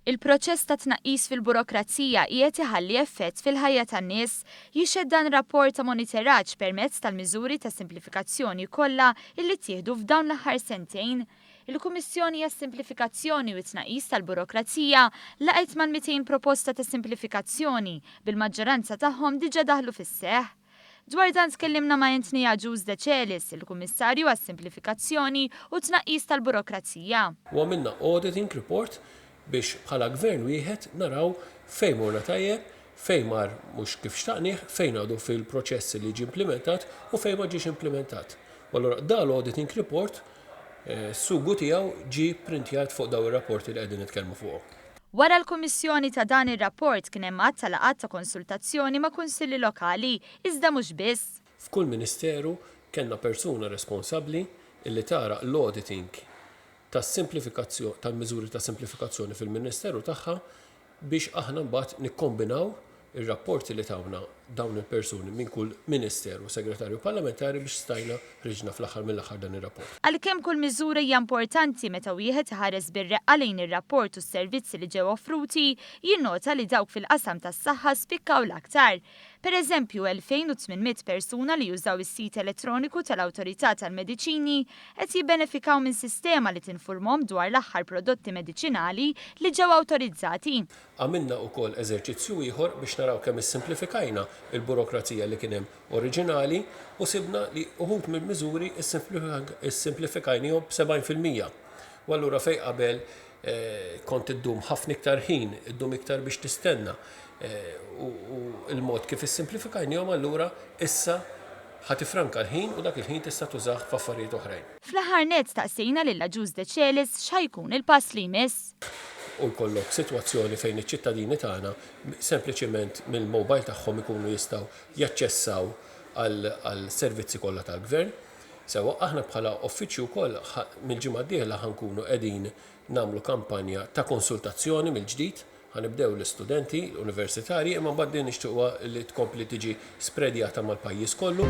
Il-proċess ta' tnaqqis fil-burokrazija qiegħed iħalli effett fil-ħajja tan-nies, jixhed dan rapport ta' moniteraġġ permezz tal-miżuri ta' simplifikazzjoni kollha illi ttieħdu f'dawn l-aħħar sentejn. Il-Kummissjoni għas-Simplifikazzjoni u t-Tnaqqis tal-Burokrazija laqgħet mal-200 proposta ta' simplifikazzjoni, bil-maġġoranza tagħhom diġà daħlu fis-seħħ. Dwar dan tkellimna ma' Anthony Agius Decelis, il-Kummissarju għas-Simplifikazzjoni u t-Tnaqqis tal-Burokrazija. U għamilna auditing report biex bħala Gvern wieħed naraw fejn morna tajjeb, fejn mar mhux kif xtaqnieh, fejn għadu fil-proċess li jiġi implimentat u fejn ma ġiex implimentat. U allura dal-auditing report, Is-sugu tiegħu ġie pprintjat fuq dawn ir-rapporti li qegħdin nitkellmu fuqhom. Wara l-kummissjoni ta' dan ir-rapport kien hemm għadd ta' laqgħat ta' konsultazzjoni ma' kunsilli lokali, iżda mhux biss. F'kull ministeru kellna persuna responsabbli li tagħraq l-auditing tas-simplifikazzjo tal-miżuri ta' simplifikazzjoni fil-ministeru tagħha biex aħna mbagħad nikkombinaw ir-rapporti li tawna dawn il-persuni minn kull Ministeru u Segretarju Parlamentari biex stajna ħriġna fl-aħħar mill-aħħar dan ir-rapport. Għalkemm kull miżura hija importanti meta wieħed iħares bir-reqqa lejn ir-rapport u s-servizzi li ġew offruti, jinnota li dawk fil-qasam tas-saħħa spikkaw l-aktar. Pereżempju, 2,800 persuna li jużaw is-sit elettroniku tal-Awtorità tal-Mediċini qed jibbenefikaw minn sistema li tinfurmhom dwar l-aħħar prodotti mediċinali li ġew awtorizzati. Għamilna wkoll eżerċizzju ieħor biex naraw kemm issimplifikajna l-burokrazija li kien hemm oriġinali u sibna li uħud mill-miżuri ssimplifikajnihom b' 70 fil-mija. U allura fejn qabel Kont iddum ħafna iktar ħin, iddum iktar biex tistenna, u l-mod kif issimplifikajnihom allura issa ħa tiffranka l-ħin u dak il-ħin tista' tużah f'affarijiet oħrajn. Fl-aħħar nett staqsejna lil Agius Decelis x'ħa jkun il-pass li jmiss. U jkollok sitwazzjoni fejn iċ-ċittadini tagħna sempliċement mill-mobile tagħhom ikunu jistgħu jaċċessaw għall-servizzi kollha tal-Gvern. Sewwa, aħna bħala Uffiċċju wkoll ħa mill-ġimgħa d-dieħla ħa nkunu qegħdin nagħmlu kampanja ta' konsultazzjoni mill-ġdid. Ħa nibdew l-istudenti universitarji imma mbagħad din nixtiequha li tkompli tiġi spredjata mal-pajjiż kollu.